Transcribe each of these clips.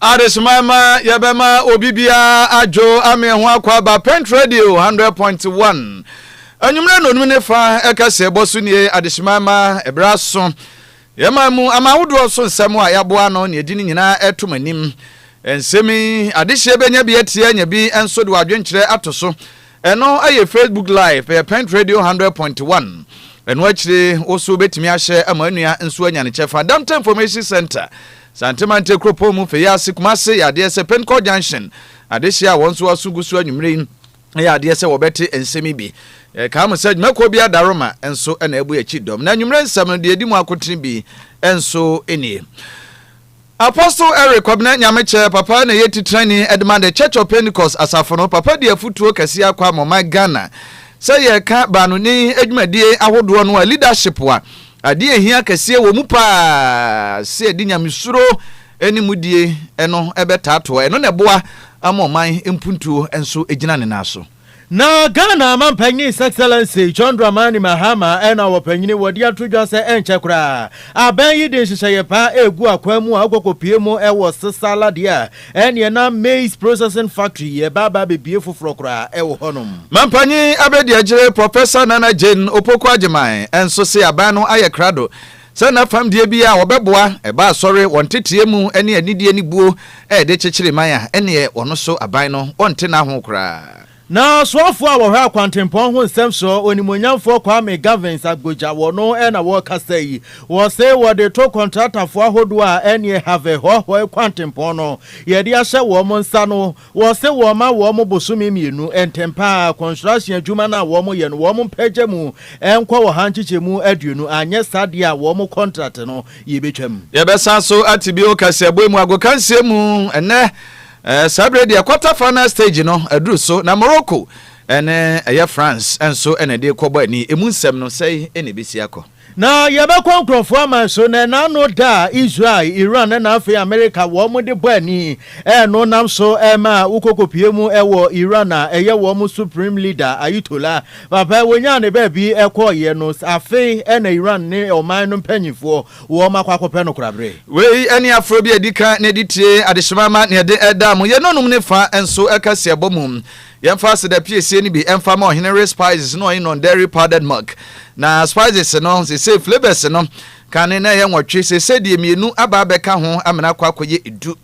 Adesomae ma yɛbɛma obi biara adwo ama ɛho akɔ aba Pent Radio 100.1 anwummerɛ nnonum ne fa ɛka sɛ bɔ so nie adesomae ma ɛberɛ aso yɛma mu ama ahodoɔ so nsɛm a yɛaboa ano ne ɛdi ne nyinaa ɛto mo anim nsɛm yi adehyeɛ bɛnya bi atie anya bi nso de wadwenkyerɛ ato so ɛno ayɛ Facebook live ɛyɛ Pent Radio 100.1 ɛno akyire wo so wobɛtumi ahyɛ ama nnua nso anya ne kyɛfa Dante Information Center Santemante kuropɔn mu fei ase Kumase yɛ adeɛ sɛ Pentecourt Junction adehyeɛ a wɔn nso aso gu so anwummere yi yɛ adeɛ sɛ wɔbɛte nsɛm yi bi. Yɛkae mo sɛ dwumakuo bi adaworoma nso na abu akyi dɔm na anwummere nsɛm no deɛ ɛdi mu akotene bi nso nie. Apostle Eric Kwabena Nyamekyɛ, Papa na ɛyɛ titenani de ma The Church of Pentecost asafo no. Papa di afotuo kɛseɛ akɔ ama ɔman Ghana sɛ yɛreka baanoni dwumadie ahodoɔ no a leadership a Ade a ehia kɛseɛ wɔ mu paa sɛ yɛde nyamesuro ne mudie no bɛtaa toa. Ɛno na ɛboa ma ɔman mpuntuo nso gyina ne nan so. Na Ghana Manpanin His Excellency John Dramani Mahama na wɔpanyini wɔ de ato dwa sɛ ɛnkyɛ koraa abɛn yi de nhyehyɛeɛ paa regu akwan mu a wɔkɔ kɔpue mu wɔ Sesala deɛ a Ɛneɛ na maize processing factory yɛ ba aba abɛbue foforɔ koraa ɛwɔ hɔnom. Mampanyin abadiakyire Professor Nana Jane Opoku Agyeman nso se aban no ayɛ krado sɛ na fam deɛ biara a wɔbɛboa ɛba asɔre wɔn tetreɛ mu ne anidie ne buo ɛde kyekyere man a ɛneɛ ɔno so aban no ɔnte n'aho koraa. Na soafoɔ a wɔhwɛ akwantempɔn ho nsɛm so, onimuonyamfoɔ Kwame Gavins Agbodza, wɔno na wɔrekasa yi. Wɔse wɔde to kɔntratafoɔ ahodoɔ a ɛneɛ Harvey Hɔhɔe kwantempɔn no yɛde ahyɛ wɔn nsa no, wɔse wɔmma wɔn bosome mmienu ntɛmpa ara construction adwuma no a wɔyɛ no wɔn mpagya mu nkɔ ɔha nkyekyɛmu aduonu anyɛ saa deɛ a wɔn contract no yɛbɛtwam. Yɛbɛsan so ate bio kaseɛbɔ mu agokansie mu ɛnnɛ. Eh, saa berɛ deɛ quarter final stage no aduru so na Morocco ɛne ɛyɛ France ɛnso ɛna ɛde kɔbɔ ani emu nsɛm no sɛe ɛna ɛbɛsi akɔ. Na yɛbɛkɔ nkurɔfoɔ aman so na ɛna ano da a Israel, Iran ɛna afei Amerika wɔn de bɔ ani ɛno nam so ɛma wokɔkɔpie mu ɛwɔ Iran a ɛyɛ wɔn Supreme Leader Ayitola papa wɔnyaa ne baabi ɛkɔɔyɛ no afei ɛna Iran ne ɔman no mpanyinfoɔ wɔakɔ akɔpɛ no korabre. Wei ne aforɔ bi a ɛdi kan na ɛde tie adehyema ma nea ɛde da mu. Yɛn anom no fã nso ka siabɔ mu. Yɛmfa aseda piesie no bi mfa ma Ɔhene Ray Spices ne Ɔhene Non-Dairy Powdered Milk. Na spices no, seesei flavours no, kane na ɛyɛ nwɔtwe, seesei deɛ mmienu aba abɛka ho amena akɔ akɔyɛ du.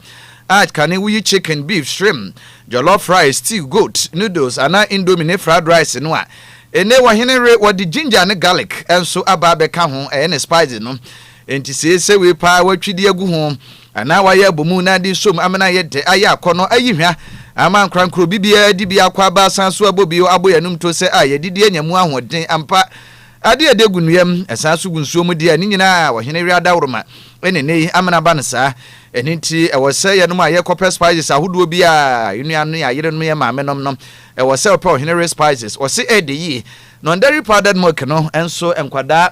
A Kane woyi chicken, beef, shrimp, jollof rice, stew, goat, noodles anaa indomie ne fried rice no a, Ene wɔ hene re wɔde ginger ne garlic nso aba abɛka ho ɛyɛ ne spices no enti se ese wei paa watwi de agu ho anaa wayɛ abɔ mu na de som amena ayɛ dɛ ayɛ akɔnɔ ayi hwa ama ankorankoro bi biara di bi akɔ aba asan so abɔ bio abɔ yanom to sɛ a yɛdidi anya mu ahoɔden ampa ade a ɛde gu nnua mu ɛsan so gu nsuo mu deɛ ne nyinaa wɔ hene re adaworoma ɛne ene yi amena aba no saa ɛne nti ɛwɔ sɛ yɛnom a yɛkɔpɛ spices ahodoɔ biara yɛnua no yɛayerenom yɛ maamenom no Ɛwɔ sɛ ɔpɛ ɔhene were spices ɔse ɛɛdɛ yie. Non dairy powdered milk no nso nkwadaa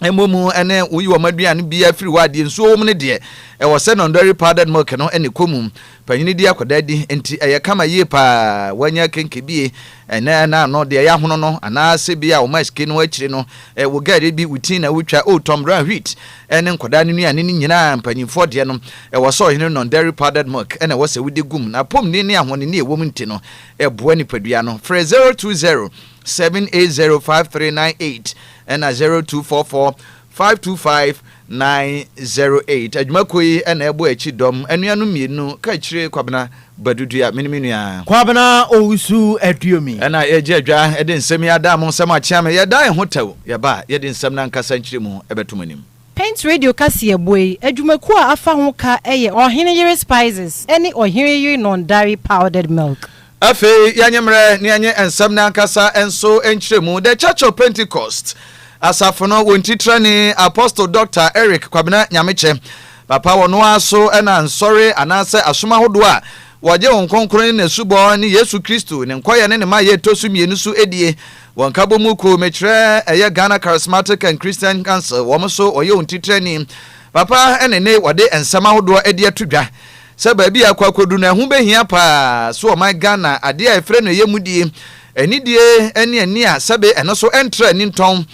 mmɔ mu ne woyi wɔn aduane biara firi hɔ a deɛ nsuo wɔ mu no deɛ ɛwɔ sɛ non dairy powdered milk no na ɛkɔ mu. Panyini di akwadaa di nti ɛyɛ kama yie paa wanya kenkebie ɛnɛ na ano deɛ yɛahono no anaasɛ bi a wɔn asike no akyire no wogɛre bi wo ti na wotwa oh Tom Brown wheat ne nkwadaa no nnuane no nyinaa, mpanyimfoɔ deɛ no, ɛwɔ sɛ ɔhene non dairy powdered milk na ɛwɔ sɛ wode gum, na apɔmuden ne ahɔnenni a ɛwom nti no, ɛboa nipadua no. Frɛ 020 780 5398 ɛna 0244 525 908. Adwumakuo yi na ɛbɔ akyi dɔm, anuanom mmienu, Kakyire Kwabena Badu Dua, me ne me nua. Kwabena Owusu Aduomi. Ɛna yɛregye adwa de nsɛm yi ada mo nsam akyea me. Yɛda yɛn ho tɛw. Yɛba a, yɛde nsɛm no ankasa nkyerɛmu bɛto mo anim. Paint Radio kaseɛbɔ yi adwumakuo a afa ho ka yɛ Ɔhene Yere Spices ne Ɔhene Yere Nɔndare Powdered Milk. Afei yɛnye mmerɛ na yɛnye nsɛm no ankasa nso nkyerɛmu. The Church of Pentecost Asafo no wɔn titrani Apostle Doctor Eric Kwabena Nyamekyɛ Papa wɔ no ara so na nsɔre anaasɛ asom ahodoɔ a wɔgye Honhom Kronkron ne n'asubɔ ne Yesu Kristo, ne nkɔyɛ ne ne mayɛ ɛtɔ so mmienu so die. Wɔ nkabɔ mu kuo, mekyerɛ ɛyɛ Ghana Charismatic and Christian Council, wɔn so wɔyɛ wɔn titrani. Papa ne ne wɔde nsɛm ahodoɔ adi ato dwa sɛ baabi a ɛkɔ akɔduru no ɛho bɛhia pa ara so ɔman Ghana, adeɛ a ɛfrɛ no ɛyɛ mudie, anidie ne ani a sɛbe ɛno so ɛntra ani ntɔn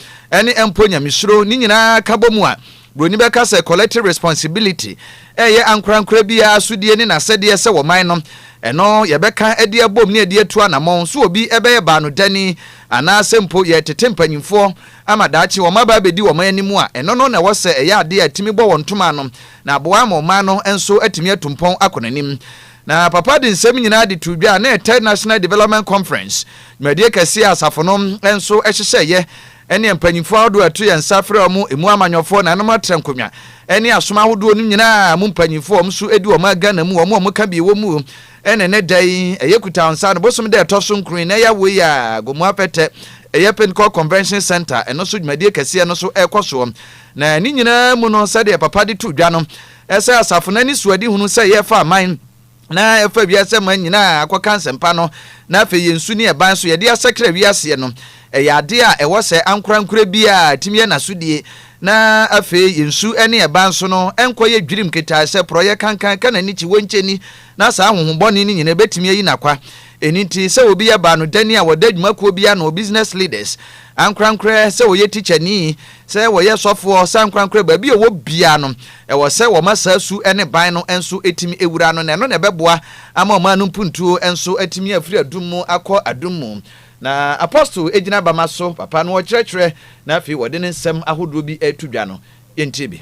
ne mpo nyamesuro, ne nyinaa ka bɔ mu a, Buroni bɛka sɛ collective responsibility reyɛ ankorankora biara sodie ne n'asɛdeɛ sɛ wɔ man no, ɛno yɛbɛka de abom ne de atu anamɔn so obi bɛyɛ baanodani anaa sɛ mpo yɛretete mpanyimfoɔ ama daakye wɔn aba abɛdi wɔn anim a, ɛno no na ɛwɔ sɛ ɛyɛ adeɛ a ɛtumi bɔ wɔn ntoma ano na aboa ama ɔman no nso atumi atu mpɔn akɔ n'anim. Na papa de nsɛm nyinaa de too dwa ne Third National Development Conference dwumadie kɛseɛ a asafo no nso hyehyɛeɛ ɛne mpanyimfo ahodoɔ a ɛto yɛn nsa frɛ wɔn, ɛmu amanyɔfoɔ, nanom atrɛnkonwa, ɛne asom ahodoɔ no nyina ara mu mpanyimfo a wɔn so di wɔn a Ghana mu wɔn a wɔn ka bi wɔ mu o, ɛne ɛnɛ da yi ɛyɛ Kutawansa no bosom da ɛtɔ so nkron na ɛyɛ awoe yi a Gomoa Apɛtɛ ɛyɛ Pentecost Convention Centre ɛno so dwumadie kɛseɛ no so ɛrekɔ soɔ na ne nyina ara mu no sɛdeɛ Papa de too dwa no ɛsɛ asafo no ani soadihunu sɛ yɛrefa aman na ɛfa wiase aman nyinaa akɔka nsɛmpa no, na afei yɛn su ne ɛban so yɛde asakra wiaseɛ no, ɛyɛ adeɛ a ɛwɔ sɛ ankorankorɛ biara a ɛtumi yɛ n'asodie, na afei yɛn su ne ɛban so no nkɔyɛ dwirim ketaae sɛ porɔeɛ kankan, ka n'ani kyi, wɔnkyɛ ni, na saa ahonhommɔne no nyinaa ɛbɛtumi ayi n'akwa. Ɛno nti, sɛ obi yɛ baanodani a ɔda adwumakuo bi ano, business leaders, ankorankorɛ sɛ ɔyɛ tikyani, Sɛ wɔyɛ sɔfoɔ sankorankora baabi a ɔwɔ biara no, ɛwɔ sɛ wɔma saa su ne ban no nso tumi wura no, na ɛno na ɛbɛboa ama ɔman no mpuntuo nso atumi afiri adum mu akɔ adum mu. Na Apostle gyina bama so, papa no ɔkyerɛkyerɛ, na afei ɔde ne nsɛm ahodoɔ bi reto dwa no. Yɛntie bi.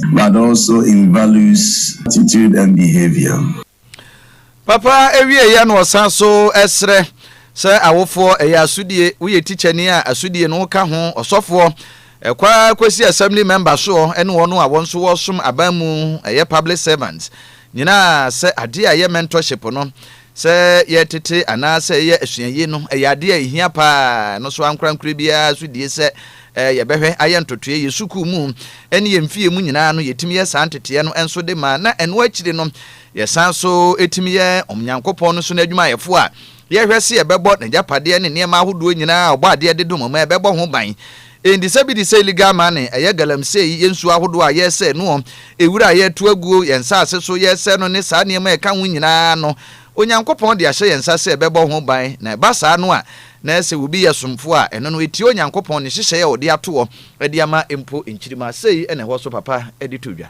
But also in values, attitude and behaviour. Papa ɛwieɛ yɛ na ɔsan so ɛsrɛ sɛ awofoɔ ɛyɛ asodie woyɛ tikyani a asodie no woka ho ɔsɔfoɔ ɛkɔ ara kɔsi assembly member soɔ ɛne wɔn a wɔn nso wɔsom aban mu ɛyɛ public servants nyinaa sɛ adeɛ a ɛyɛ mentorship no Sɛ yɛretete anaasɛ yɛyɛ asuaye no, ɛyɛ ade a ehia paa. Ɛno so ankorankorɛ biara nso die sɛ yɛbɛhwɛ ayɛ ntotoeɛ. Yɛn sukuu mu ne yɛn fie mu nyinaa no, yɛtumi yɛ saa nteteeɛ no nso de ma, na ɛno akyiri no, yɛsan nso tumi yɛ Onyankopɔn no so n'adwumayɛfoɔ a yɛhwɛ sɛ yɛbɛbɔ n'agyapadeɛ ne nneɛma ahodoɔ nyinaa a ɔbɔadeɛ de dom ma yɛbɛbɔ ho ban. Enti sɛ bi de sɛ illegal mining, ɛyɛ galamsey, yɛ nsuo ahodoɔ a yɛresɛe noɔ, ewira a yɛreto aguo, yɛn nsaase so yɛresɛe no ne saa nneɛma a ɛka ho nyinaa no, Onyankopɔn de ahyɛ yɛn nsa sɛ ɛbɛbɔ ho ban, na ɛba saa no a, na sɛ obi yɛ somfoɔ a, ɛno no ɛtia Onyankopɔn ne nhyehyɛeɛ a ɔde atoɔ de ama mpo, nkyirimma sei na ɛwɔ so papa de to dwa.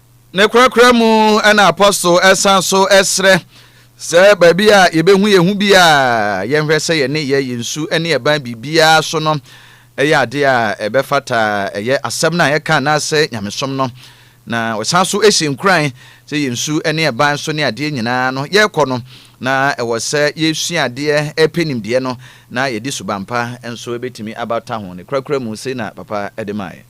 Ne korakora mu na apɔstol san so srɛ sɛ baabi a yɛbɛhu yɛn ho bi a yɛnhwɛ sɛ yɛne yɛ yɛ nsu ne ɛban biribiara so no ɛyɛ adeɛ a ɛbɛfata ɛyɛ asɛm no a yɛka anaasɛ nyamesom no na wɔsan so si nkuran sɛ yɛn nsu ne ɛban so ne adeɛ nyinaa no yɛrekɔ no na ɛwɔ sɛ yɛsua adeɛ ɛpɛ nimdeɛ no na yɛde subampa nso ɛbɛtumi abata ho ne korakora mu sei na papa ɛde maaeɛ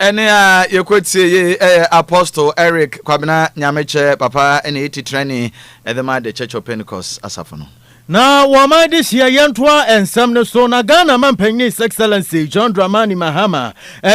Ɛnne a yɛkɔtiei yɛ Apostle Eric Kwabena Nyamekyɛ papa na ɛyɛ titrani de ma The Church of Pentecost asafo no. Na wɔma adehyeɛ yɛntoa nsɛm no so na Ghana Mampanin His Excellency John Dramani Mahama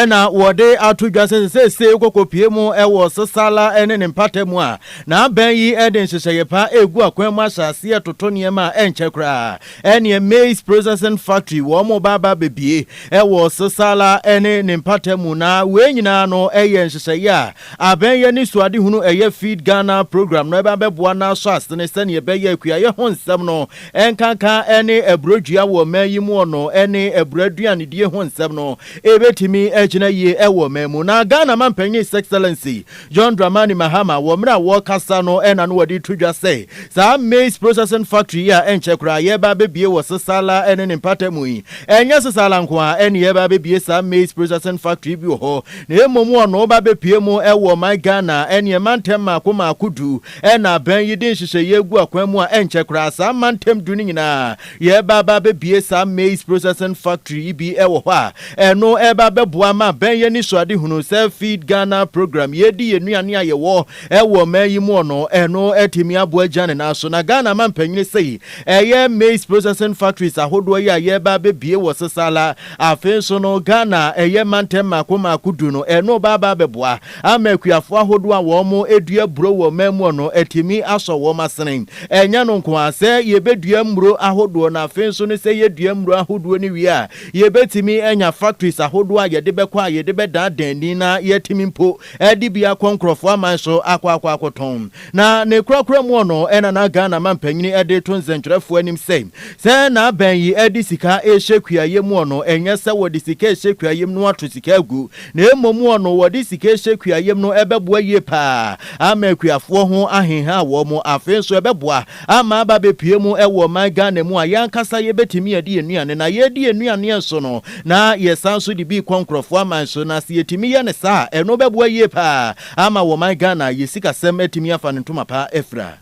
na wɔde ato dwa sɛ seesei wokɔkɔpue mu wɔ Sasala ne ne mpata mu a, na abɛn yi de nhyehyɛeɛ pa regu akwan mu ahyɛ aseɛ retoto nneɛma a ɛnkyɛ koraa. Ɛneɛ maize processing factory wɔn mo ba ba bɛbie ɛwɔ Sesala ɛne ne mpata mu na wei nyinaa no ɛyɛ nhyehyɛeɛ a abɛn yɛ ne suadehunu ɛyɛ Feed Ghana program no ɛbɛ abɛboa na asɔ asene sɛneɛ ɛbɛyɛ akuayɛ ho nsɛm no nkanka ɛne aburɔdua wɔ ɔman yi mu ɔno ɛne aburɔ aduanedie ho nsɛm no ɛbɛtumi agyina yie ɛwɔ ɔman mu na Ghana Manpanin His Excellency John Dramani Mahama wɔ mmerɛ a wɔrekasa no na no wɔde reto dwa sɛ saa maize processing factory yi a ɛnkyɛ koraa yɛreba abɛbue wɔ Sesala ne ne mpata mu yi, ɛnyɛ Sesala nko ara ne yɛreba abɛbue saa maize processing factory bi wɔ hɔ na mmom wɔ no ba bɛpue mu wɔ ɔman Ghana ne mantam mmaako mmaako du na aban yi de nhyehyɛeɛ agu akwan mu a ɛnkyɛ koraa saa mantam du no nyinaa Yɛreba aba abɛbue saa Maize Processing Factory yi bi wɔ hɔ a, ɛno ɛreba abɛboa ma Bɛn Yɛn Anisoadehunu sɛ Feed Ghana program, Yɛdi Yɛn Nnuane a Yɛwɔ wɔ Ɔman yi Muɔ no, ɛno atumi aboa agyina ne nan so. Na Ghana mampanyini sei, ɛyɛ Maize Processing Factories ahodoɔ yi a yɛreba abɛbue wɔ Sesala, afei nso no Ghana ɛyɛ mantam mmaako mmaako du no, ɛno reba aba abɛboa. ama akuafo ahodoɔ a wɔdua aburo wɔ ɔman mu no atumi asɔ wɔn asene. Ɛnyɛ no nko ara sɛ yɛbɛdua mmuro ahodoɔ na afei nso no sɛ yɛdua mmuro ahodoɔ no wie a, yɛbɛtumi anya factories ahodoɔ a yɛde bɛkɔ a yɛde bɛdaadaa ani na yɛatumi mpo de bi akɔ nkorɔfoɔ aman so akɔ akɔ akɔtɔn. Na ne korakora mu no na na Ghana mampanyini de reto nsɛntwerɛfoɔ anim sɛ, sɛ na abɛn yi de sika rehyɛ kuayɛ mu no, ɛnyɛ sɛ wɔde sika rehyɛ kuayɛ mu na wɔato sika agu na mmom ɔno wɔde sika ahyɛ kuayɛm no ɛbɛboa yie paa ama akuafoɔ ho ahenha wɔn, afei nso ɛbɛboa ama aba abɛpue mu wɔ ɔman Ghana mu a yɛn ankasa yɛbɛtumi adi yɛn nnuane, na yɛredi yɛn nnuaneɛ nso no na yɛsan nso de bi kɔ nkorɔfoɔ aman so, na sɛ yɛtumi yɛ no saa a ɛno bɛboa yie paa ama ɔman Ghana yɛn sikasɛm atumi afa ne ntoma pa afira.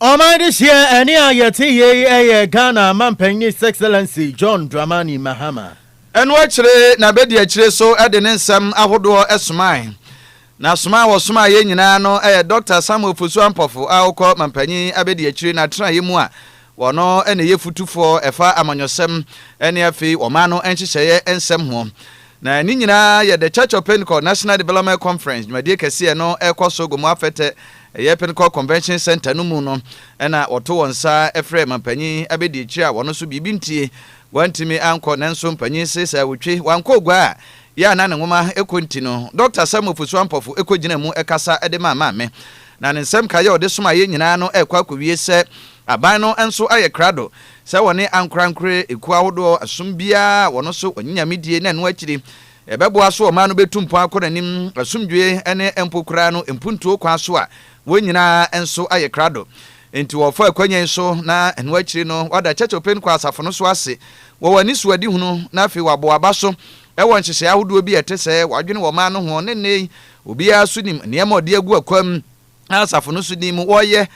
Ɔman dehyeɛ ɛne a yɛte yei ɛyɛ Ghana Manpanin His Excellency John Dramani Mahama. Ɛno akyire na bɛdi akyire so de ne nsɛm ahodoɔ somae. Na soma a wɔsomaa yɛn nyinaa no yɛ Dɔkta Samuel Fosu Ampɔfo a ɔkɔ Manpanin abɛdi akyire n'atenaeɛ mu a Wɔno na ɛyɛ fotufɔɔ ɛfa amanyɔsɛm ɛne afei ɔman no nhyehyɛeɛ nsɛm ho. Na ne nyinaa yɛ The Church of Pentecost National Development Conference dwumadie kɛseɛ no ɛkɔ so Gomo Afɛtɛ ɛyɛ Pentecost Convention Centre no mu no ɛna wɔto wɔn nsa frɛ mampanyin abɛdi akyire a wɔno nso biribi ntie wantumi ankɔ nanso mpanyin se sɛ ɔtwe wankɔ ogua a yɛ a na ne nwoma ɛkɔ nti no Dɔkta Samuel Fosu Ampɔfo ɛkɔgyinaa mu ɛkasa de maa maame Na ne nsɛm nkaeɛ a ɔde somaa yɛn nyinaa no rekɔ akɔwie sɛ, Aban no nso ayɛ krado sɛ wɔne ankorankorɛ ekuo ahodoɔ asom biara a wɔn so wɔnye Nyame die na ɛno akyiri ɛbɛboa so ɔman no bɛtu mpɔn akɔ n'anim asomdwoeɛ ne mpo koraa no mpuntuo kwan so a wɔn nyinaa nso ayɛ krado Enti wɔfa akwanya yi so na ɛno akyiri no wɔada Church of Pentecost asafo no so ase wɔ wɔn anisoadehunu na afei wɔabɔ aba so wɔ nhyehyɛe ahodoɔ bi a ɛte sɛɛ wɔadwene wɔ ɔman no ho ne nnɛyi Obiara nso nim nneɛma a ɔde agu akwam a asafo no nso nim wɔyɛ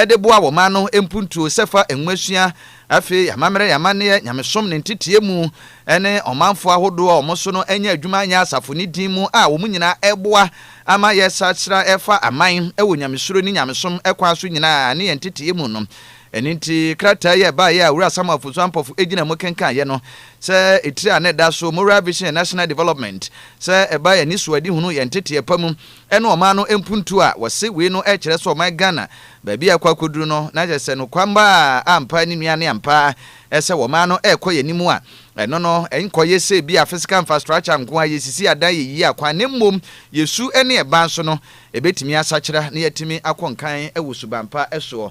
de boa wɔn mma no mpuntuo sɛ fa nwomasua, afei amammerɛ yɛ amanneɛ, nyamesom ne ntetee mu, ne ɔmanfoɔ ahodoɔ a wɔn so no anya adwuma anyɛ asafo no din mu a wɔn nyinaa reboa ama yɛsakyera fa aman wɔ nyamesuro ne nyamesom kwan so nyinaa ne yɛn ntetee mu no. Ɛno nti, krataa yi a ɛbaeɛ a Owura Samuel Fosu Ampɔfo gyinaa mu kenkaneeɛ no, sɛ etire a na ɛda so, Moral Vision and National Development, sɛ ɛbae anisoadehunu, yɛn nteteɛ pa mu, ne ɔman no mpuntuo a, wɔse wei no kyerɛ sɛ ɔman Ghana, baabi a ɛrekɔ akɔduru no, na kyerɛ sɛ nokwamma a ampa ne nua ne ampa ara sɛ ɔman no rekɔ yɛn anim a, ɛno no nkɔyɛ sɛ ebia physical infrastructure nko ara, yɛsisi adan, yɛyiyi akwan, na mmom yɛsu ne ɛban so no, ɛbɛtumi asakyera na yɛatumi akɔ nkan wɔ suban pa soɔ.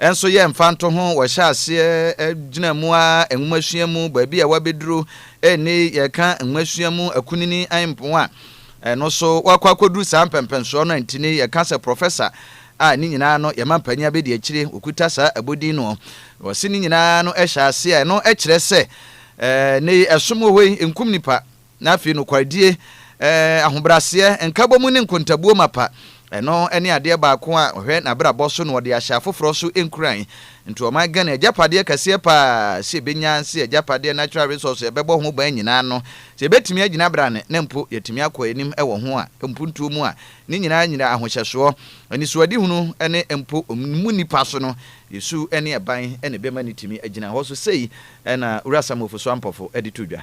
Nso yɛ mfantoho, wɔhyɛ aseɛ gyina mu ara nwomasua mu, baabi a wɔabɛduru ɛnne yi yɛka nwomasua mu akunini mpo a, ɛno so wɔakɔ akɔduru saa mpɛmpɛnsoɔ no a ntini yɛka sɛ Professor a ne nyinaa no yɛma mpanin abɛdi akyire wɔkuta saa abodin noɔ. Wɔse ne nyinaa no hyɛ aseɛ a ɛno kyerɛ sɛ ɛnne yi ɛsom wɔ hɔ yi nkum nipa. Na afei nokwaredie, ahobrɛaseɛ, nkabɔmu ne nkontabuo mapa, ɛno ne adeɛ baako a ɔhwɛ n'abrabɔ so na ɔde ahyɛ afoforɔ so nkuran. Nti ɔman Ghana agyapadeɛ kɛseɛ paa sɛ yɛbɛnya sɛ agyapadeɛ natural resource a yɛbɛbɔ ho ban nyinaa no, sɛ yɛbɛtumi agyina brane na mpo yɛatumi akɔ anim wɔ ho a, mpuntuo mu a, ne nyinaa nyina ahohyɛsoɔ, anisoadehunu ne mpo mu nnipa so no, yɛsu ne ɛban na ɛbɛma no atumi agyina hɔ. So sei na Wura Samuel Ofosu Ampofo de to dwa?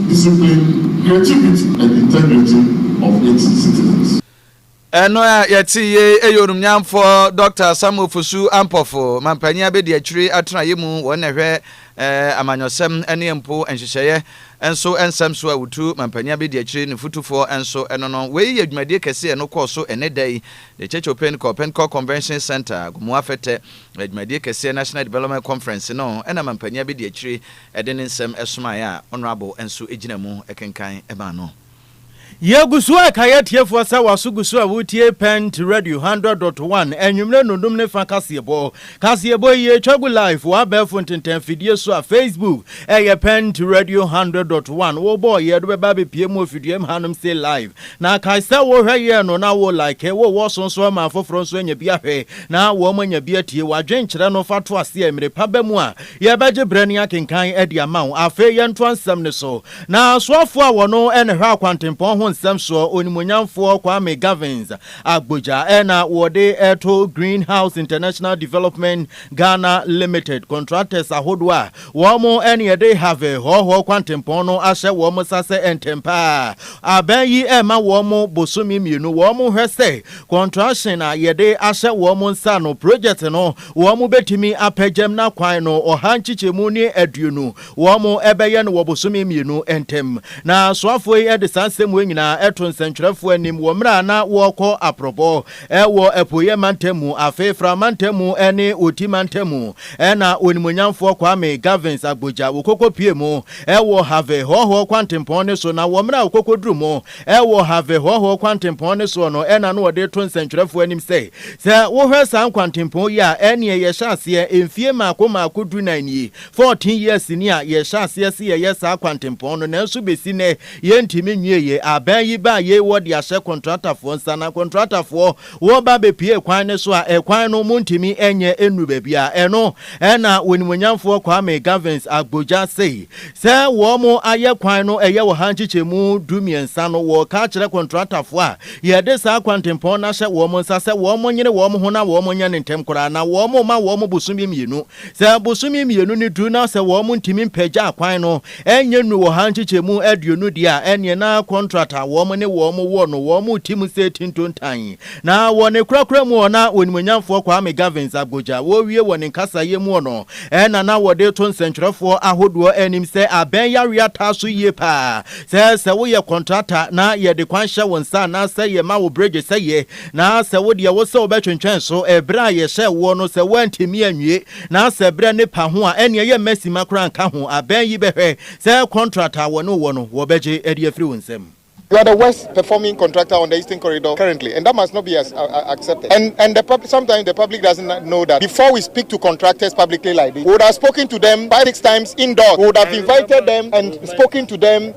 Discipline, creativity and integrity of its citizens. Ɛno a yɛte yei ɛyɛ onumnyamfoɔ Dɔkta Sam Ofosu Ampɔfo, mampanyin abɛdiakyiri atenaeɛ mu wɔn na ɛhwɛ eh, amanyɔsɛm ne mpo nhyehyɛeɛ nso nsɛm so a wotu mampanyin abɛdiakyiri ne fotufoɔ nso no no. Wei yɛ dwumadie kɛse ɛno kɔɔ so ɛnɛ da yi The Church of Pentecost, Pentecost Convention Center, Agomuafɛtɛ, dwumadie kɛseɛ National Development Conference no ɛna mampanyin abɛdiakyiri Ɛde ne nsɛm somaeɛ a Honourable nso gyina mu kenkan maa no. Yɛgu so reka yɛn atiefoɔ sɛ w'aso gu so a woretie Pent Radio hundred dot one anwummerɛ nnundum ne fa kaseɛbɔ. Kaseɛbɔ yi yɛtwa gu live wɔ abɛɛfo ntentan afidie so a Facebook ɛyɛ Pent Radio hundred dot one. Wo bɔ ɔyɛ do bɛba abɛpue mu wɔ fidua mu hanom sei live. Na kae sɛ wo hwɛ yɛn no na wo like, wo wɔ so nso ma afoforɔ nso anya bi ahwɛ na wɔn anya bi atie. W'adwenkyerɛ no fa to aseɛ, mmerɛ pa ba mu a, Yɛbɛgye berɛ ne akenkan adi ama wo. Afei yɛntoa nsɛm no so. Na soafoɔ a wɔno na ɛhwɛ akwantempɔn ho nsɛm soɔ, Onimuonyamfoɔ Kwame Gavins Agbodza na wɔde reto Green House International Development Ghana Limited contractors ahodoɔ a wɔn ne yɛde Harvey Hɔɔhɔɔ Kwantempɔn no ahyɛ wɔn nsa sɛ ntɛm pa ara abɛn yi ɛrema wɔn bosome mmienu wɔn hwɛ sɛ contraction a yɛde ahyɛ wɔn nsa no project no Wɔbɛtumi apɛ Gemna kwan no ɔha nkyekyɛmu ne aduonu, wɔbɛyɛ no wɔ bosome mmienu ntam. Na asoafoɔ yi de saa nsɛm wei nyinaa to nsɛntwerɛfoɔ anim wɔ mmerɛ a na wɔrekɔ aprɔbɔ wɔ Apueeɛ mantam mu, afei Fra mantam mu ne Oti mantam mu. Ɛna Onimuonyamfoɔ Kwame Gavins Agbodza wɔkɔkɔpue mu wɔ Harvey Hɔhoɔ kwantempɔn no so, na wɔ mmerɛ a wɔkɔkɔduru mu Wɔ Harvey Hɔhoɔ Kwantempɔn no soɔ no na na wɔde reto nsɛntwerɛfoɔ anim sɛ, Sɛ wohwɛ saa nkwantempɔn yi a, ɛnneɛ yɛhyɛ aseɛ mfie mmaako mmaako dunan nie, fourteen years ni a yɛhyɛ aseɛ se yɛyɛ saa kwantempɔn no, nanso bɛsi nnɛ yɛntumi nwieeɛ. Aban yi baa yei wɔde ahyɛ kɔntratafoɔ nsa, na kɔntratafoɔ. Woba bepue kwan no so a, ɛkwan no montumi nyɛ nnu baabi a ɛno na Onimuonyamfoɔ Kwame Gavins Agbodza sei sɛ wɔn ayɛ kwan no ɛyɛ wɔ ha nkyekyɛmu du mmiɛnsa no wɔka kyerɛ kɔntratafoɔ a yɛde saa kwantempɔn no ahyɛ wɔn nsa sɛ wɔn nyene wɔn ho na wɔn nyɛ no ntɛm koraa na wɔn ma wɔn bosome mmienu Sɛ bosome mmienu no duru na sɛ wɔn ntumi mpagya akwan no ɛnyɛ nnuru wɔ ha nkyekyɛmu aduonu deɛ a, ɛneɛ na kɔntrat a wɔn ne wɔn wɔ no wɔn reti mu sɛ ti ntontan. Na wɔ ne korakora mu ɔ na Onimuonyamfoɔ Kwame Gavins Agbodza wɔrewie wɔ ne nkasaeɛ mu ɔ no na na wɔde reto nsɛnkyerɛfoɔ ahodoɔ anim sɛ abɛn yareɛ ataa so yie paa sɛ sɛ woyɛ kɔntrata na yɛde kwan hyɛ wo nsa anaasɛ yɛma wo bregye sɛ yɛ Na sɛ wo deɛ wose wobɛtwentwɛn so berɛ a yɛhyɛɛ woɔ no, sɛ woantumi anwie, na sɛ berɛ no pa ho a, ɛnneɛ yɛmma simma koraa nka ho, abɛn yi bɛhwɛ sɛ kɔntrat a wɔne wo wɔ no, wɔbɛgye de afiri wo nsam. You are the worst performing contractor on the Eastern Corridor currently and that must not be accepted and and the pub sometimes the public doesn't know that before we speak to contractors publicly like this we would have spoken to them five six times indoors we would have invited them and spoken to them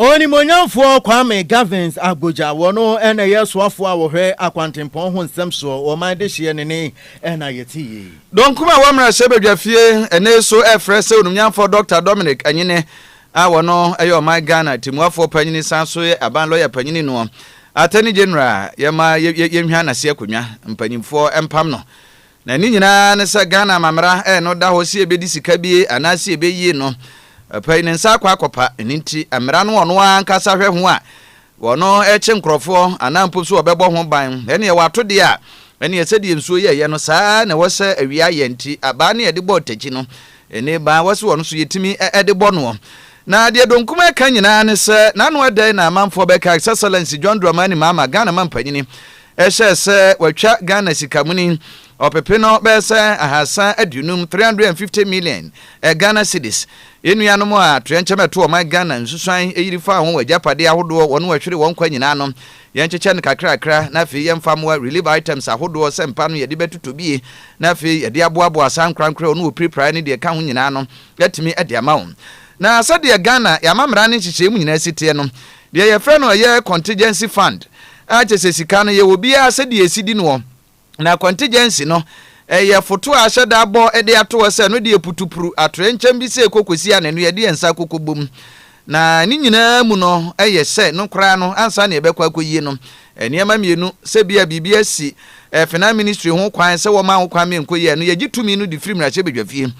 Onimuonyamfoɔ Kwame Gavins Agbodza wɔ no na ɛyɛ soafoɔ a wɔhwɛ akwantempɔn ho nsɛm soɔ wɔ ɔman dehyeɛ ne ne na yɛte yei. Donkum a ɛwɔ Mmarahyɛ Badwa fie ɛnnɛ yi so ɛrefrɛ sɛ Onimnyamfoɔ Dɔkta Dominic Anyene a wɔ no yɛ ɔman Ghana Temuafoɔ Panyini san so yɛ Aban Lɔya Panyini noɔ Attorney General yɛma yɛnhwan nase akonnwa mpanyinfoɔ mpam no Na ne nyinaa ne sɛ Ghana amammera ɛɛ no da hɔ se ɛbɛdi sika bie anaa se ɛbɛyie no. Ɔpɛ yi ne nsa akɔ akɔpa, ɛno nti mmera no ɔno ara ankasa hwɛ ho a ɔno ɛkye nkorɔfoɔ anaa mpo so ɔbɛbɔ ho ban. Ɛneɛ wato deɛ a, ɛneɛ sɛdeɛ nsuo yɛ yɛ no saa ara na ɛwɔ sɛ awia yɛ nti abaa ne yɛde bɔ ɔtakyi no ɛne baa ɛwɔ se ɔno so yɛtumi ɛde bɔ noɔ. Na deɛ Donkum ɛka nyinaa ne sɛ n'ano ɛdɛn na amanfoɔ bɛka His Excellency John Dramani Mahama, Ghana mampanyini, Ɛhyɛɛ sɛ wɔatwa Ghana sika muni ɔpepe no bɛyɛ sɛ ahasa aduonum, 350 million, Ghana cedis. Yɛn nuanom a atoyɛnkyɛm a ɛto ɔman Ghana nsusuan yiri faa ho wɔ agyapadeɛ ahodoɔ wɔn wɔhwere wɔn nkwa nyinaa no, yɛnkyekyɛ no kakrakra na afei yɛmfa mmoa relief items ahodoɔ sɛ mpa no yɛde bɛtotɔ bie na afei yɛde aboaboa saa nkorankorɛ wɔn wɔpirapiraeɛ ne deɛ ɛka ho nyinaa no atumi de ama wɔn. Na sɛdeɛ Ghana yɛn amammara ne nhyehyɛeɛ mu nyinaa si teɛ no, deɛ yɛfrɛ no ɛyɛ contingency fund, A Kyesɛ sika no yɛ obiara sɛdeɛ ɛsi di noɔ. Na contingency no, ɛyɛ foto a ahyɛ da abɔ de ato hɔ sɛ no deɛ putu pru atorɛ nkyɛn bi sɛ ɛkɔ kɔsi a na ɛno yɛde yɛn nsa akɔkɔ bom. Na ne nyinaa mu no yɛ sɛ no koraa no ansa na yɛbɛkɔ akɔyie no, nneɛma mmienu, sɛ bi a biribi asi Finance Ministry ho kwan sɛ wɔma ho kwan ma yɛnkɔ yie a, no yɛgye tumi no de firi mmarahyɛbadwafie.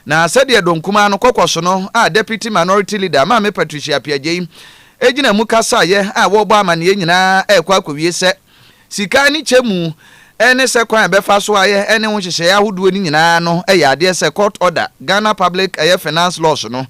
Na sɛdeɛ Dɔnkumaa no kɔkɔso no a Deputy Minority Leader, Maame Patricia Appiagyei, Egyina mu ka saayɛ a wɔrebɔ amanneɛ nyinaa rekɔ akowie sɛ, Sika ne kyɛ mu ne sɛ kwan a ɛbɛfa so ayɛ ne ho nhyehyɛeɛ ahodoɔ no nyinaa ano yɛ adeɛ sɛ Court Order, Ghana Public ɛyɛ Finance Laws no,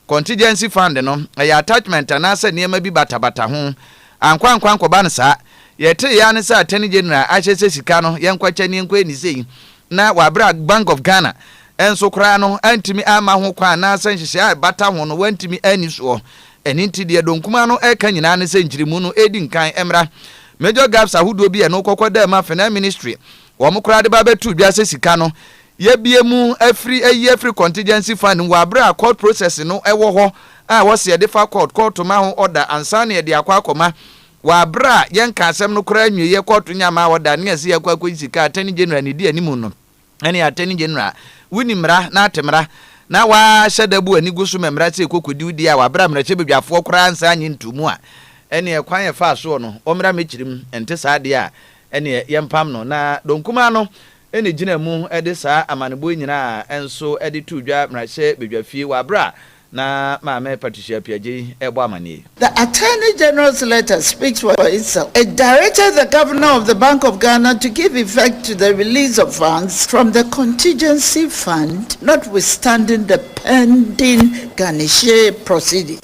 Contingency Fund no, ɛyɛ attachment anaasɛ nneɛma bi batabata ho. Ankɔ ankɔ ankɔba no saa. Yɛteeɛ ara ne sɛ Attorney General ahyɛ sɛ sika no yɛnkɔkyɛ ne yɛnkɔyɛ ne sei na wɔ bere a Bank of Ghana nso koraa no antumi amma ho kwan anaasɛ nhyehyɛe a ɛbata ho no wɔantumi anni soɔ. Ɛno nti deɛ Donkumaa no reka nyinaa ne sɛ nkyeremu no ɛdi nkan mmra. Major gaps ahodoɔ bi a ɛno kɔkɔ daa mu a Finance Ministry wɔn koraa de ba bɛtoo dwa sɛ sika no yɛbue mu afiri ayi afiri contingency fund mu wɔ bere a court process no wɔ hɔ a ɛwɔ sɛ yɛde fa court, kɔɔto ma ho order ansa na yɛde akɔ akɔma Wɔ aber a yɛnnka asɛm no koraa nnwieeɛ, kɔɔto nye ama wɔda nea ɛsɛ yɛkɔ akɔyi sika a Attorney General ne di anim no ne Attorney General, wo ni mmara na ate mmara, na w'ahyɛ da bu ani gu so ma mmara sɛ ɛkɔkɔdi wo di a wɔ aber a mmarahyɛbadwafoɔ koraa nsa nye ntoo mu a, ɛneɛ kwan a ɛfaa soɔ no, ɔmmra m'akyiri mu, ɛnte saa deɛ a, ɛneɛ yɛmpam no, na dɔnkumaa no na egyinaa mu de saa amanebɔ yi nyinaa nso de too dwa Mmarahyɛ Badwafie wɔ bere a na Maame Patricia Appiah Gyei rebɔ amanneɛ yi. The Attorney General's letter speaks for itself. It directed the Governor of the Bank of Ghana to give effect to the release of funds from the contingency fund notwithstanding the pending garnishee proceedings.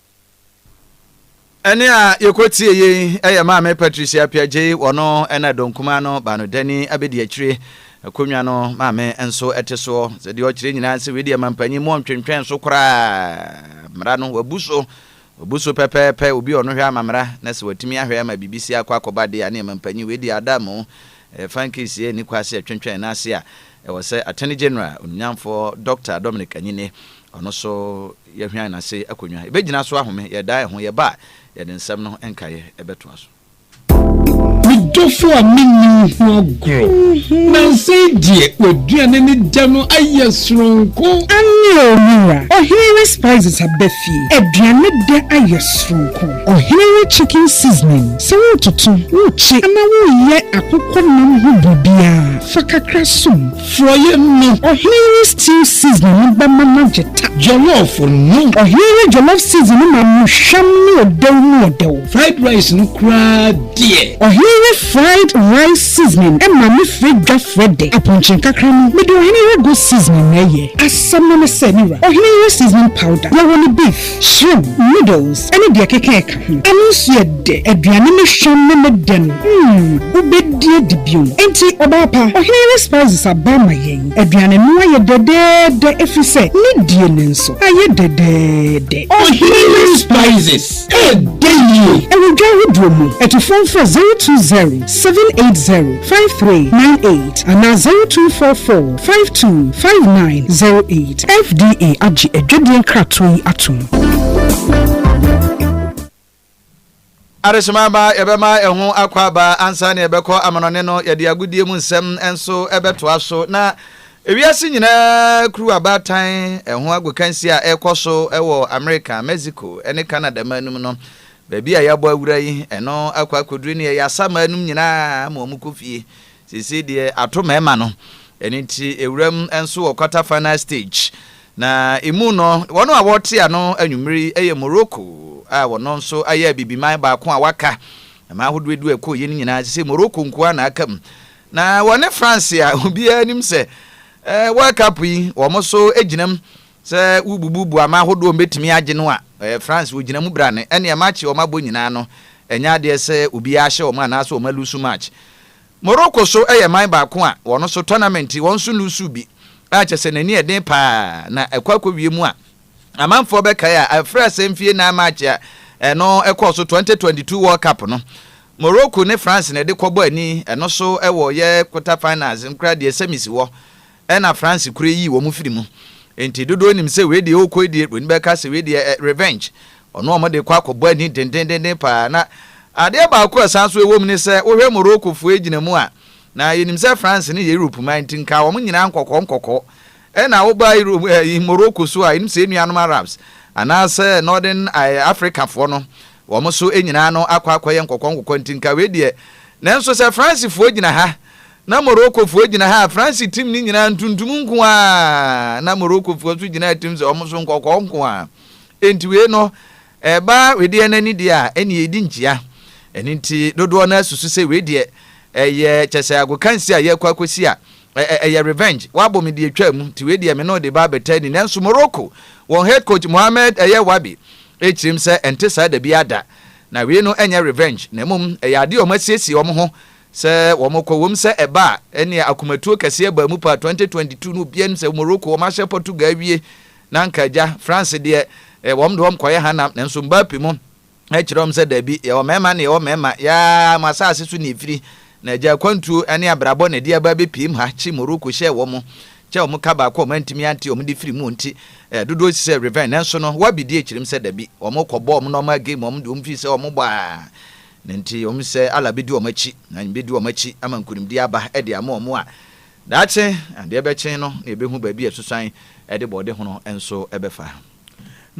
ɛne a yɛkɔtie yei ɛyɛ maame patricia piagyei wɔno ɛna dɔnkuma no ba no dani abɛdi akyire akonnwa no maame nso ɛte soɔ sɛ deɛ ɔkyerɛ nyinaa sɛ wei deɛ mampanyin mu ɔntwentwɛn so koraa mmara no wabu so wabu so pɛpɛɛpɛ obi ɔno hwɛ ama mmara na sɛ watumi ahwɛ ama biribi si akɔ akɔba deɛ a ne mampanyin wei deɛ ada mu fankisi ani kwa sɛ ɛtwentwɛn n'ase a ɛwɔ sɛ attorney general onyamfoɔ dr dominic anyine ɔno so Yɛhwean n'ase akonnwa. Yɛbɛgyina so ahome. Yɛdaa yɛn ho. Yɛba a, yɛde nsɛm no nkaeɛ bɛtoa so. Me dɔfo a menni wo ho agorɔ. Nansa yi deɛ, w'aduane ne dɛ no ayɛ soronko. Aane oo me wura. Ɔhene we spices aba fie. Aduane dɛ ayɛ soronko. Ɔhene we chicken seasoning. Sɛ wototo, wokye anaa woyɛ akokɔ nam ho biribiara, fa kakra som. Frɔeɛ no. Ɔhene yi stew seasoning no bɛma no agye ta. Jollof no. Ɔhene yi jollof seasoning no ma no hwam ne ɔdɛw mu ɔdɛw. Fried rice no koraa deɛ. Ɔhene yi fried rice seasoning ma me frɛ dwa frɛ dɛ. Apɔnkye nkakra no, mede ɔhene yi go seasoning na ɛyɛ. Asɛm no ne sɛ, me wura, ɔhene yi seasoning powder, yɛwɔ no beef. Shrimp, noodles ne deɛ ɛkeka ɛka ho. Ɛno nso yɛ dɛ. Aduane no hwam ne ne dɛ no, mm, wobɛdi adi bio. Enti, ɔbaa pa, ɔhene yere spices aba ama yɛn. Aduane no ayɛ dɛdɛɛdɛ ɛfiri sɛ ne die no nso ayɛ dɛdɛɛdɛ. Ɔhene yere spices, ɛyɛ dɛ yie. Ɛwɔ dwa ahodoɔ mu. Atufoɔ mfrɛ zero two zero, seven eight zero, five three nine eight anaa zero two four four, five two, five nine zero eight. FDA agye adwadie nkratoɔ yi atom. Adehyema aba, yɛbɛma ɛho akɔ aba ansa na yɛbɛkɔ amanɔne no. Yɛde agodie mu nsɛm nso bɛtoa so. Na ewiase nyinaa kuru abaatan ɛho agokansi a ɛrekɔ so wɔ Amerika, Mexico ne Canada man no mu no. Baabi a yɛabɔ awura yi, ɛno akɔ akɔduru ne ɛyɛ asaman nom nyinaa ma wɔkɔ fie. Seesei deɛ ato mɛɛma no, ɛno nti ɛwuram nso wɔ quarter final stage, na ɛmu no wɔn a wɔrete ano anwummere yi yɛ Morocco a wɔn nso ayɛ abibiman baako a waka. Mmaa ahodoɔ edu a ɛkɔeɛ no nyinaa seesei Morocco nko ara na aka mu, na wɔne France a obiara nim sɛ World Cup yi wɔn nso gyina mu Sɛ wobubu boama ahodoɔ a wɔbɛtumi agye no a, ɛyɛ France wɔgyina mu bra no. Ɛnneɛ match a wɔabɔ nyinaa no, ɛnyɛ adeɛ sɛ obiara hyɛ wɔn anaasɛ wɔn alusu match. Morocco so yɛ man baako a wɔn nso tournament wɔn nso lusuu bi a kyerɛ sɛ n'ani yɛ den pa ara na ɛkɔ akɔwie mu a amanfoɔ bɛkae a ɛfra sɛ mfie nnan match a ɛno ɛkɔɔ so 2022 World Cup no Morocco ne France na ɛde kɔbɔ ani ɛno so wɔ yɛ quarter finals no koraa deɛ semis wɔ Ɛna France kura yii wɔn firi mu. Enti dodoɔ nim sɛ wei deɛ ɔɔkɔ die, w'ani bɛka sɛ wei deɛ ɛ revenge. Ɔno wɔn de kɔ akɔ bɔ ani dendendenden paa. Na adeɛ baako a ɛsan nso ɛwɔ mu ne sɛ, wo hwɛ Morocco foɔ ɛgyina mu a, na yɛnim sɛ France no yɛ Europe man nti nka wɔn nyinaa nkɔkɔɔ nkɔkɔɔ. Ɛna wo ba Europe ɛ yi Morocco nso a, yɛnim sɛ yɛn nuanom Arabs anaa sɛ Northern ɛ Africa foɔ no, wɔn nso nyinaa no akɔ akɔ yɛ nkɔkɔɔ nkɔkɔɔ nti nka wei deɛ. Nanso sɛ France foɔ gyina ha, Ná Morokofoɔ gyina ha a Franse tirim no nyinaa ntuntum nko ara, na Morokofoɔ nso gyina ha tirim sɛ wɔn nso nkɔkɔɔ nko ara. Enti wei no, ɛba wedeɛ no ani deɛ a, ɛnneɛ ɛdi nkyea. Ɛno nti dodoɔ no ara susu sɛ wei deɛ, ɛyɛ kyɛ sɛ agokansie a yɛrekɔ akɔsi a, ɛyɛ revenge, wɔabɔ me deɛ ɛtwaa mu, nti wei deɛ me ne wo de ba abɛtaa ni. Nanso Moroko, wɔn head coach Mohamed ɛyɛ Wabi kyirim sɛ ɛnte saa da biara da. Na wei no ɛnyɛ revenge, na mmom ɛyɛ adeɛ a wɔasiesie wɔn ho Sɛ wɔkɔ wom sɛ ɛba a, ɛnneɛ akomatuo kɛseɛ baa mu paa 2022 no obiara nim sɛ Morocco wɔn ahyɛ Portugal awie na anka agya, France deɛ eh, wɔn de wɔn kɔyɛ hanam nanso Mbappe mo ɛkyerɛ wɔn sɛ daabi yɛwɔ mmarima na yɛwɔ mmarima yaa mo asase so na ɛfiri na agya akwantuo ne abrabɔ na ɛde aba abɛpiem ha kye Morocco hyɛ wɔn kyɛ wɔn ka baako wɔn antumi ante wɔn de firi mu nti eh, dodoɔ si sɛ revenge nanso no wabidi akyerɛm sɛ dabi wɔn kɔbɔ wɔn normal game wɔn de wɔn firi sɛ wɔn bɔ a Na enti wɔn sɛ Allah bedi wɔn akyi, na Nyame bedi wɔn akyi ama nkunimdie aba de ama wɔn a daakye adeɛ bɛkye no na yɛbɛhu baabi a asusuan de bɔɔdehono nso bɛfa.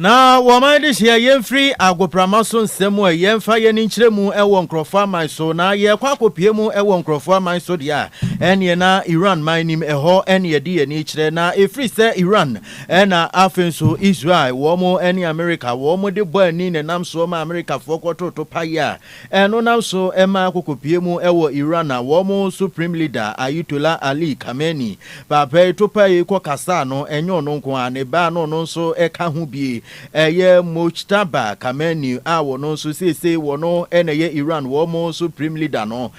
Na wɔn adehyeɛ yɛmfiri agoprama so nsɛm mu a yɛmfa yɛn ani nkyerɛ mu wɔ nkurɔfoɔ aman so, na yɛkɔ akɔpue mu wɔ nkurɔfoɔ aman so deɛ a, ɛneɛ na Iran man nim ɛhɔ ne yɛde yɛn ani kyerɛ, na ɛfiri sɛ Iran Ɛna afei nso Israel wɔn ɛne Amerika wɔn de bɔ ani nenam soɔ ma Amerikafoɔ kɔtoto payɛ a ɛno nam so ɛma akokɔpie mu ɛwɔ Iran na wɔn Supreme Leader Ayutollah Ali Khamenei paapa yi to payi kɔ kasaa no ɛnyɛ ɔno nko ara ne baa no ɔno nso ɛka ho bie ɛyɛ Mojtaba Khamenei a wɔn nso seesei wɔn ɛna ɛyɛ Iran wɔn Supreme Leader no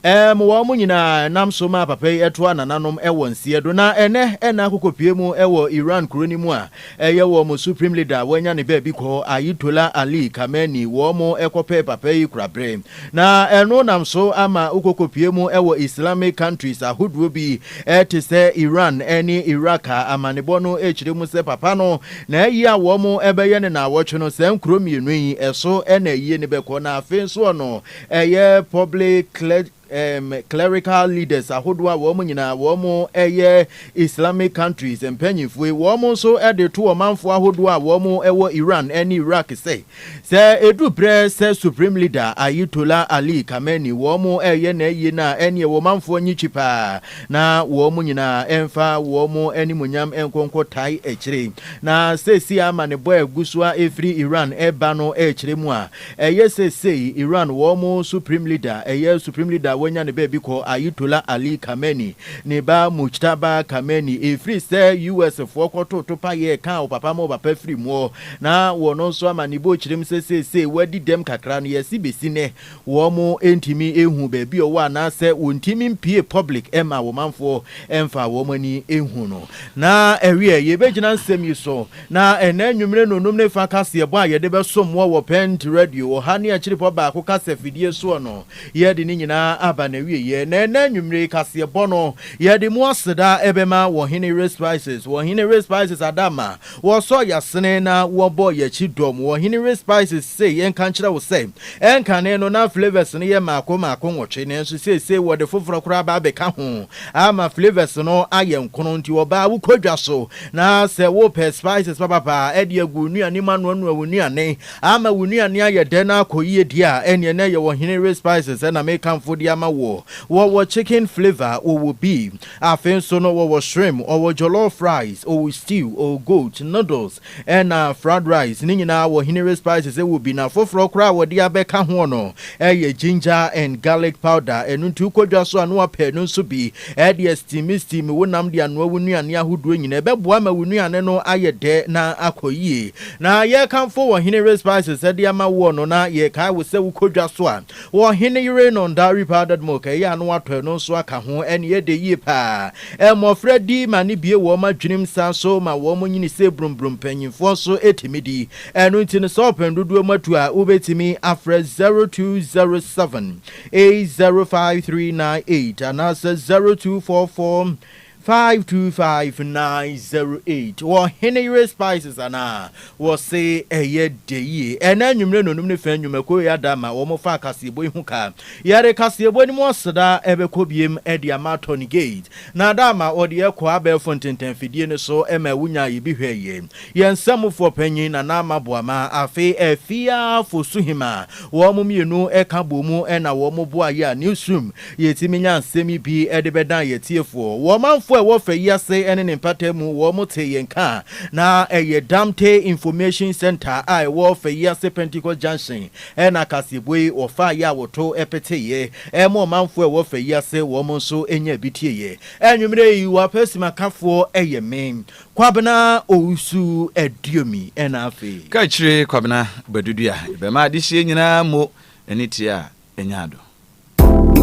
Ɛm wɔn mo nyinaa nam so maa papa yi toa nananom wɔ nseɛ do. Na ɛnɛ na akokɔ pue mu wɔ Iran kuro no mu a ɛyɛ wɔn mo supreme leader wanya ne baabi kɔ Ayitollah Ali Khamenei wɔn mo kɔ pɛɛ papa yi kura bere. Na ɛno nam so ama wokokɔ pue mu wɔ Islamic countries ahodoɔ bi te sɛ Iran ne Iraq a amanebɔ no kyerɛ mu sɛ papa no na ayie a wɔn mo bɛyɛ no naawɔtwe no saa nkuro mmienu yi so na ayie no bɛkɔ na afei nso ɔno Ɛyɛ public clergy um, clerical leaders ahodoɔ a wɔn nyinaa wɔn yɛ Islamic countries mpanyinfoe. Wɔn nso de to ɔmanfoɔ ahodoɔ a wɔn wɔ Iran ne Iraq sɛ, sɛ edu berɛ sɛ Supreme Leader Ayetollah Ali Khamenei wɔn reyɛ n'ayie no a, ɛneɛ wɔn manfoɔ nye kyi paa na wɔn nyinaa mfa wɔn animuonyam nkɔ nkɔtae akyire. Na seesei amanebɔ a ɛgu so a ɛfiri Iran ba no kyerɛ mu a, Ɛyɛ sɛ sei Iran wɔn Supreme Leader, ɛyɛ Supreme Leader a wɔanya no baabi kɔ, Ayetollah Ali Khamenei, ne ba Mojtaba Khamenei, ɛfiri sɛ US foɔ kɔtoo topa yɛɛ kaa ɔpapa ma ɔpapa firi muɔ, na wɔn nso ama ne bo kyerem sɛ seesei wadi dɛm kakra no, yɛse bɛsi nnɛ wɔn ntumi nhuu baabi a ɔwɔ anaa sɛ wɔntumi mpue public mma wɔmanfoɔ mfa wɔn ani nhu no. Na ɛweɛ yɛbɛgyina nsɛm yi so Na ɛnnɛ anwummere nnɔnnum ne fa kaseɛbɔ a yɛde bɛsom mo wɔ Pɛɛnt Radio ɔha ne akyirepɔ baako kasafidie soɔ no, yɛde ne nyinaa aba n'awieeɛ. Na ɛnnɛ anwummere yi kaseɛbɔ no, yɛde mu aseda bɛma Wɔhene Ray Spices. Wɔhene Ray Spices ada ama wɔsɔɔ yɛn asene na wɔbɔɔ yɛn akyi dɔm. Wɔhene Ray Spices se yɛnka nkyerɛ wo sɛ, ɛnkane no na flavours no yɛ mmaako mmaako nwɔtwe, nanso seesei wɔde foforɔ koraa aba abɛka ho ama flavours no ayɛ nkono, nti ɔbaa wokɔ dwa so Na sɛ wopɛ spices papapa de agu wo nnuane mu anoanoa wo nnuane ama wo nnuane ayɛ dɛ na akɔ yie deɛ a, ɛnneɛ na ɛyɛ wɔ Henere Spices na mekamfo de ama woɔ. Wɔwɔ chicken flavour, wɔwɔ beef. Afei nso no, wɔwɔ shrimp, wɔwɔ jollof rice, wɔwɔ stew, wɔwɔ goat, noodles, ɛna fried rice. Ne nyinaa wɔ Henere Spices wɔ bi. Na foforɔ koraa a wɔde abɛka ho no yɛ ginger and garlic powder. Ɛno nti wokɔ dwa so a na woapɛ ɛno nso bi Ɛdeɛ steame steame wo nam de anoa wo nnuane ahodoɔ nyinaa. Ɛbɛboa ma wo nnuane no ayɛ dɛ na akɔ yie. Na yɛrekamfo wɔ Hene Yere Spices de ama woɔ no, na yɛrekae wo sɛ wokɔ dwa so a, wɔ Hene Yere no Ndari Powdered Milk, ɛyɛ a na woatɔ ɛno nso aka ho. Ɛnneɛ ɛdɛ yie pa ara. Mmɔfra di ma no bue wɔn adwenem san nso ma wɔn nyini sɛ brumbrum. Mpanimfoɔ nso tumi di. Ɛno nti no, sɛ wopɛ no dodoɔ mu atu a, wobɛtumi afrɛ 0207 eight zero five three nine eight anaasɛ zero two four four five two five nine zero eight wɔ hene yere spices anaa wɔse ɛyɛ dɛ yie ɛna anwummere na onum ne fɛn nnwumakuo yɛ ada ma wɔn fa kaseɛbɔ yi ho ka yɛde kaseɛbɔ no mu aseda ɛbɛkɔ biem ɛde ama Tony Gate na ada ama ɔde ɛkɔ abɛɛfo ntenten fidie no so ɛma ɛwo nyaa yɛ bi hwɛ yie yɛn nsɛmfoɔ panyin na na ama boama afei afiafoɔ suhima Wɔn mmienu ka boom na wɔn boa yɛ a Newsroom yɛtumi nya nsɛm yi bi de bɛdan yɛn atiefoɔ. Wɔ ɔmanfoɔ a ɛwɔ fɛ yi ase ne ne mpata mu, wɔn tee yɛn nka na ɛyɛ Damte Information Centre a ɛwɔ fɛ yi ase Pentecost Junction na kaseɛbue yi wɔfaa yɛ a wɔto peteeɛ ma ɔmanfoɔ a ɛwɔ fɛ yi ase wɔn nso nyaa bi tieeɛ. Anwummerɛ yi wɔ apesimakafoɔ yɛ me. Kwabena Owusu Aduomi na afei. Kakyire Kwabena Badudua, Ebɛma adehyeɛ nyinaa mo ani teɛ a ɛnya ado.